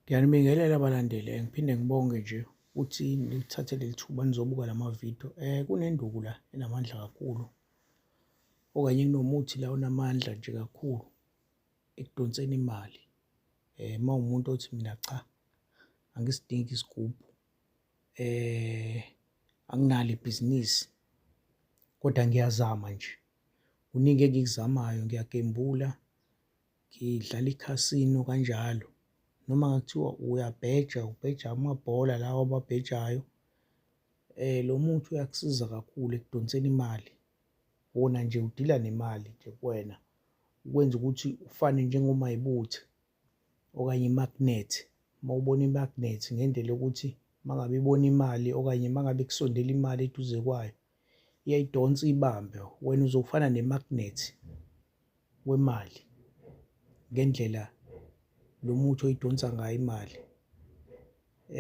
Ngiyanibingelela balandeli, eh, ngiphinde ngibonge nje ukuthi nilithathe leli thuba nizobuka la mavidiyo. Um eh, kunenduku la enamandla kakhulu okanye kunomuthi la onamandla nje kakhulu ekudonseni imali. Um uma umuntu othi mina cha angisidingi isigubhu um anginalo ibhizinisi kodwa ngiyazama nje. Kuningi engikuzamayo, ngiyagembula, ngidlala ikhasino kanjalo noma ngakuthiwa uyabheja ubheja amabhola lawa ababhejayo eh lo muthi uyakusiza kakhulu ekudonseni imali wona nje udila nemali nje kuwena ukwenza ukuthi ufane njengomayibuthe okanye imagnet uma ubona imagnet ngendlela yokuthi mangabe ibona imali okanye mangabe kusondela imali eduze kwayo iyayidonsa ibambe wena uzofana nemagnet wemali ngendlela lo muthi oyidonsa ngayo imali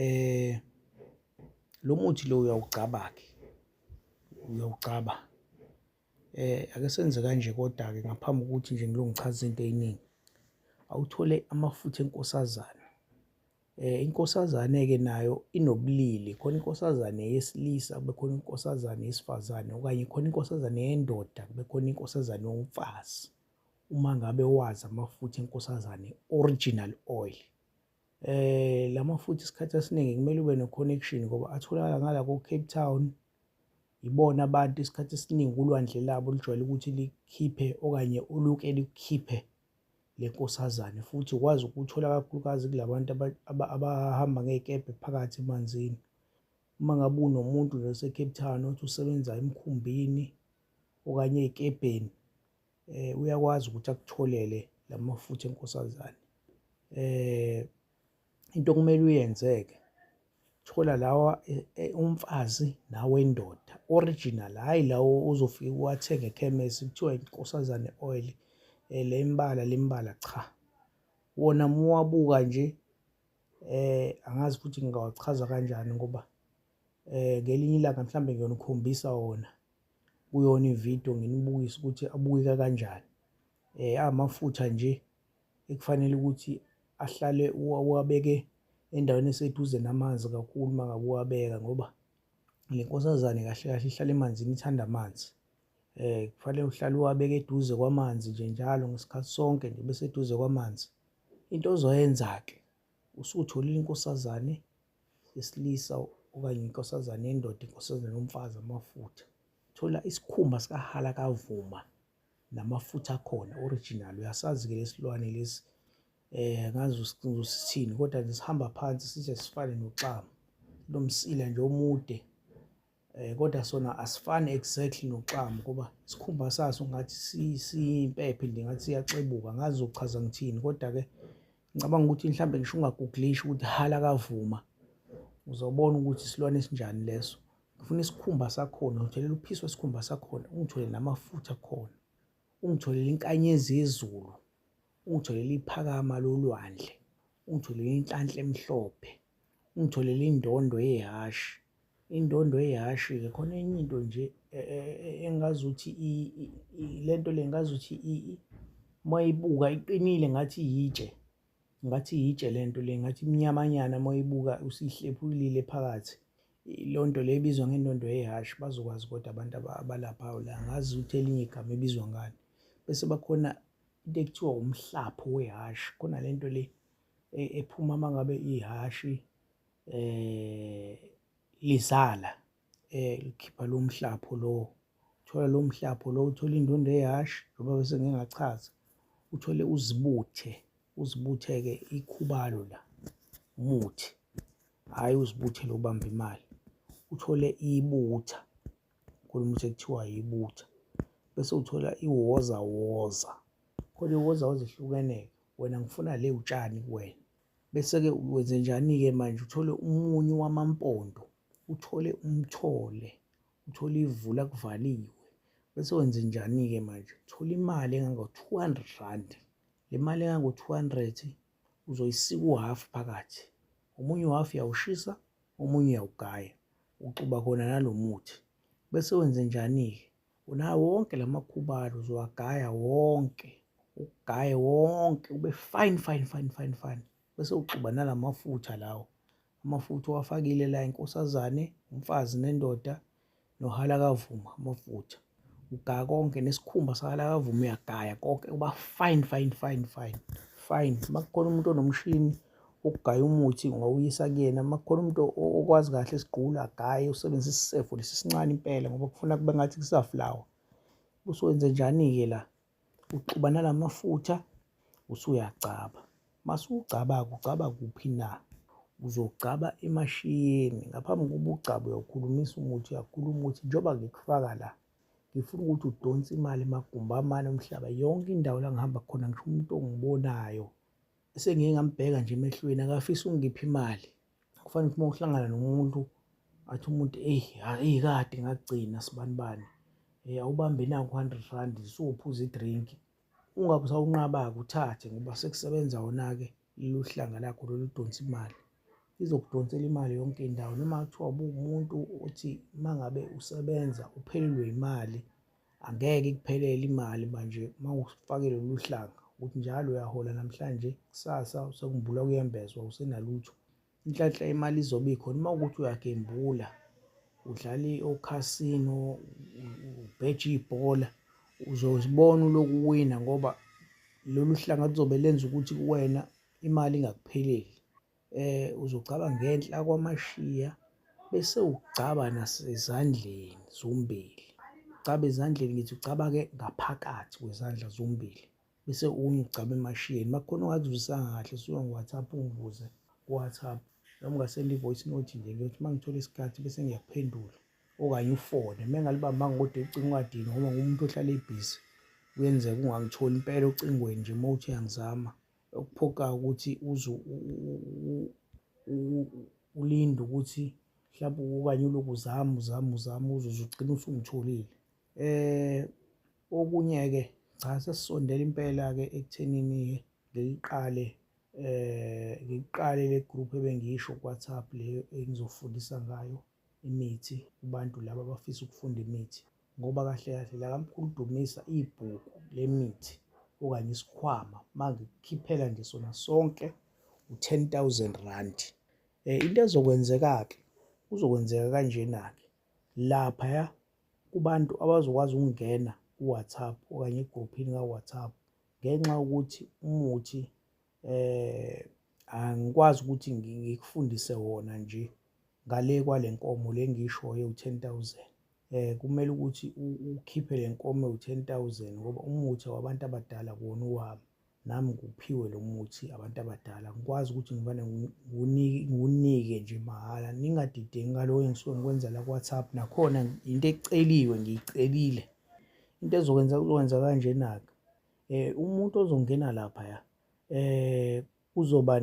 eh lo muthi lo uyawugcaba-ke uyawugcaba eh ake senze kanje kodwa-ke ngaphambi kokuthi nje ngilongichaza into eyiningi awuthole amafutha enkosazana Eh inkosazane ke nayo inobulili khona inkosazane yesilisa kube khona inkosazane yesifazane okanye khona inkosazane yendoda kube khona inkosazane yomfazi uma ngabe wazi amafutha enkosazane original oil eh lamafutha isikhathi esiningi kumele ube no connection ngoba atholakala ngala ko Cape Town ibona abantu isikhathi esiningi kulwandle labo lijwayele ukuthi likhiphe okanye uluke likhiphe le nkosazane futhi ukwazi ukuthola kakhulukazi kulabantu abahamba ngezikebhe phakathi emanzini uma ngabe unomuntu nje oseCape Town othi usebenza emkhumbini okanye ezikebheni eh uyakwazi ukuthi akutholele lamafutha enkosazane eh into okumele uyenzeke thola lawa e, e, umfazi nawendoda original hayi lawo uzofika uwathenge ekhemesi kuthiwa inkosazane oil eh, le imbala lembala cha wona muwabuka nje eh angazi futhi ngingawachaza kanjani ngoba eh ngelinye ilanga mhlambe ngiyonikhombisa wona kuyona ivideo nginibukise ukuthi abukeka kanjani eh amafutha nje ekufanele ukuthi ahlale uwabeke endaweni eseduze namanzi kakhulu uma ngabe uwabeka ngoba le nkosazane kahle kahle ihlala emanzini ithanda amanzi um kufanele uhlale uwabeke eduze kwamanzi nje njalo ngesikhathi sonke nje bese eduze kwamanzi into ozoyenza-ke usutholile inkosazane yesilisa okanye inkosazane yendoda inkosazane yomfazi amafutha thola isikhumba sikahala kavuma namafutha akhona original uyasazi ke lesilwane lesi eh ngazi usithini kodwa nje sihamba phansi sithe sifane noxama lomsila nje omude eh kodwa sona asifani exactly noxama kuba isikhumba saso ngathi simpephe nje ngathi siyaxebuka ngazi uchaza ngithini kodwa ke ngicabanga ukuthi mhlawumbe ngisho ungagugulisha ukuthi hala kavuma uzobona ukuthi isilwane esinjani leso ngifuna isikhumba sakhona ngitholele uphisi wesikhumba sakhona ungitholele namafutha akhona ungitholele inkanyezi yezulu ungitholele iphakama lolwandle ungitholele inhlanhla emhlophe ungitholele indondo yehhashi indondo yehhashi-ke khona enye into nje e, e, e, engazi ukuthi le nto le ngazi ukuthi uma ibuka iqinile ngathi yitshe ngathi yitshe le nto le ngathi imnyamanyana uma ibuka usihlephulile phakathi Ilondo le ibizwa ngenondo yehhashi bazokwazi kodwa abantu abalaphayo la ngazi ukuthi elinye igama ibizwa ngani bese bakhona into ekuthiwa umhlapho wehhashi khona le nto le e, ephuma uma ngabe ihhashi um lizala um likhipha lo mhlapho lowo thola lo mhlapho lo uthole indondo eyash njengoba bese ngingachaza uthole uzibuthe uzibuthe-ke ikhubalo la umuthi hhayi uzibuthe lokubamba imali uthole ibutha khona umuthi ekuthiwa yibutha bese uthola iwoza woza khona iwoza woza ihlukene-ke wena ngifuna le utshani kuwena bese-ke wenze njani-ke manje uthole umunyu wamampondo uthole umthole uthole ivula kuvaliwe bese wenze njani-ke manje thola imali engango-two hundred rand le mali engango-two hundred uzoyisika uhhafu phakathi omunye uhhafu uyawushisa omunye uyawugaya uxuba khona nalo muthi bese wenze njani-ke unawo wonke la makhubalo uzowagaya wonke ugaye wonke ube fine fine fine fine fine bese uxuba nala mafutha lawo Amafutha owafakile la inkosazane, umfazi nendoda nohalakavuma amafutha. Ugaya konke nesikhumba sahalakavuma uyagaya konke kuba fine fine fine fine fine. Uma kukhona umuntu onomshini ukugaya umuthi ngawuyisa kuyena uma kukhona umuntu okwazi kahle isigqula agaye usebenzisa isisefo lesi sincane impela ngoba kufuna kube ngathi kusaflawa. Usuwenze njani-ke la? Uxuba nala mafutha usuyagcaba. Masugcaba-ke ugcaba kuphi na? Uzogcaba emashiyeni. Ngaphambi kokuba ugcabe uyakhulumisa umuthi, uyakhuluma ukuthi njengoba ngikufaka la, ngifuna ukuthi udonse imali emagumbi amane omhlaba. Yonke indawo la ngihamba khona ngisho umuntu ongibonayo, esengike ngambheka nje emehlweni akafisa ukungipha imali. kufanele ukuthi uma uhlangana nomuntu athi umuntu eyi eyi kade ngagcina sibani bani um awubambe naku hundred rand sowuphuza i-drink ungabe usawunqaba-ke uthathe ngoba sekusebenza wona-ke lolu hlanga lakho lolu donsa imali izokudonsela imali yonke indawo noma kuthiwa ubuwumuntu othi uma ngabe usebenza uphelelwe imali Angeke ikuphelele imali manje uma ufake lolu hlanga ukuthi njalo uyahola namhlanje kusasa sekumbula kuyembezwa usenalutho inhlanhla imali izobe ikhona uma ukuthi uyagembula udlala okhasino ubheje ibhola uzozibona uloku wina ngoba lolu hlanga luzobe lenza ukuthi kuwena imali ingakupheleli eh uzogcaba ngenhla kwamashiya bese ugcaba nasezandleni zombili ugcaba ezandleni ngithi ugcaba-ke ngaphakathi kwezandla zombili bese unye ugcaba emashiyeni uma kukhona ongakuzwisanga kahle suka ngo-whatsapp ungibuze ku-whatsapp noma ungasenda i-voice note nje ngiyothi uma ngithola isikhathi bese ngiyakuphendula okanye ufone uma engalibambanga kodwa ucinga ungadini ngoba ngumuntu ohlala ebhizi kuyenzeka ungangitholi impela ocingweni nje uma uthi uyangizama okuphoqayo ukuthi uze ulinde ukuthi mhlawumbe okanye ulokhu uzama uzama uzama uzuze ugcine usungitholile eh okunye-ke cha sesisondela impela-ke ekuthenini-ke ngiliqale eh ngiqale le group ebengiyisho kuWhatsApp leyo engizofundisa ngayo imithi kubantu laba abafisa ukufunda imithi ngoba kahle kahle la kamkhulu Dumisa ibhuku lemithi okanye isikhwama mangikukhiphela nje sona sonke u-10000 rand eh into ezokwenzeka-ke kuzokwenzeka kanjena-ke laphaya kubantu abazokwazi ukungena ku-WhatsApp okanye egruphini ka-WhatsApp ngenxa yokuthi umuthi eh angikwazi ukuthi ngikufundise wona nje ngale kwalenkomo lengishoyo u10000 eh kumele ukuthi ukhiphe lenkomo u10000 ngoba umuthi wabantu abadala kuwona uwami nami nguphiwe lo muthi abantu abadala ngikwazi ukuthi ngivane ngiwunike nje mahhala ningadideki ngaloyo engisuke ngikwenza la ku-whatsapp nakhona into eceliwe ngiyicelile into ezokwenza kuzokwenza kanjena-ke eh umuntu ozongena lapha ya eh uzoba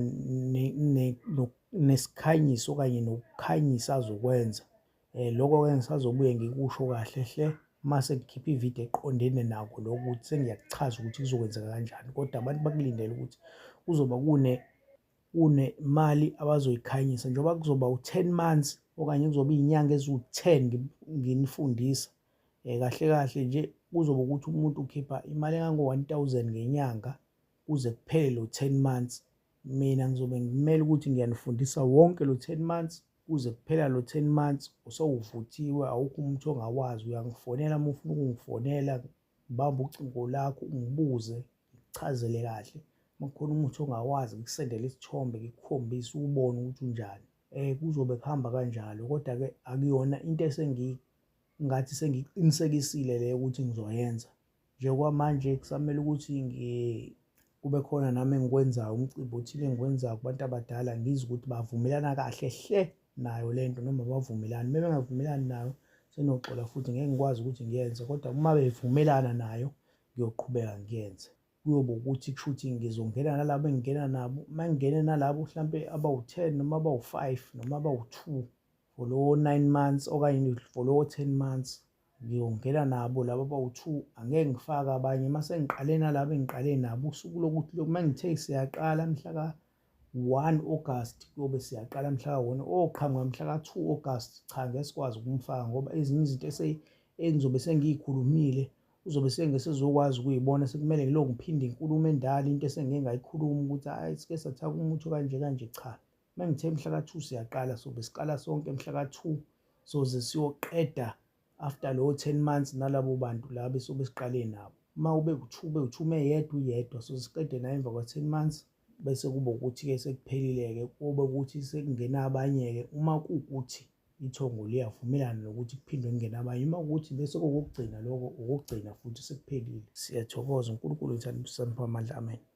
nesikhanyiso kanye nokukhanyisa azokwenza eh lokho ke ngisazobuye ngikusho kahle hle mase ngikhipha ivideo eqondene nako lokuthi sengiyakuchaza ukuthi kuzokwenzeka kanjani kodwa abantu bakulindele ukuthi kuzoba kune kunemali abazoyikhanyisa njengoba kuzoba u-10 months okanye kuzoba iy'nyanga eziwu-10 nginifundisa Eh, kahle kahle nje kuzoba ukuthi umuntu ukhipha imali engango-1000 ngenyanga kuze kuphele lo 10 months mina ngizobe ngimele ukuthi ngiyanifundisa wonke lo 10 months kuze kuphela lo 10 months usewuvuthiwe awukho umuntu ongawazi uyangifonela uma ufuna ukungifonela ngibambe ucingo lakho ungibuze ngichazele kahle uma kukhona umuntu ongawazi ngikusendele isithombe ngikukhombise ubone ukuthi unjani um kuzobe kuhamba kanjalo kodwa-ke akuyona into esengiyi ngathi sengiqinisekisile le ukuthi ngizoyenza njengoba manje kusamele ukuthi kube khona nami engikwenzayo umcimbi othile engikwenzayo kubantu abadala ngizwe ukuthi bavumelana kahle hle nayo le nto noma bavumelani uma bengavumelani nayo senoxola futhi ngeke ngikwazi ukuthi ngiyenze kodwa uma bevumelana nayo ngiyoqhubeka ngiyenze kuyoba ukuthi kushuthi ngizongena nalabo engingena nabo uma ngingene nalabo mhlampe abawu-ten noma abawu-five noma abawu-two for lowo nine months okanye for lowo ten months ngiyongena nabo laba abawu-two angeke ngifake abanye uma sengiqale nalabo engiqale nabo usuku lokuthi uma ngithe siyaqala mhlaka 1 August kuyobe siyaqala mhla ka-1 oqhamuka mhla ka-2 August cha ngeke sikwazi ukumfaka ngoba ezinye izinto engizobe sengiyikhulumile uzobe sengesezokwazi ukuyibona sekumele ngilokhu ngiphinde inkulumo endala into esengike ngayikhuluma ukuthi hhayi sike sathaka umuthi okanje kanje cha uma ngithe mhla ka-2 siyaqala sobe siqala sonke mhla ka-2 soze siyoqeda after lowo 10 months nalabo bantu laba esobe siqale nabo uma ube kuthiwa uthume yedwa uyedwa so siqede naye emva kwa-10 months bese kube ukuthi-ke sekuphelile-ke kube ukuthi sekungena abanye-ke uma kuwukuthi ithongo liyavumelana nokuthi kuphinde kungena abanye uma kuwukuthi bese kokokugcina lokho okokugcina futhi sekuphelile siyathokoza unkulunkulu ngithanda usanipha amandla amen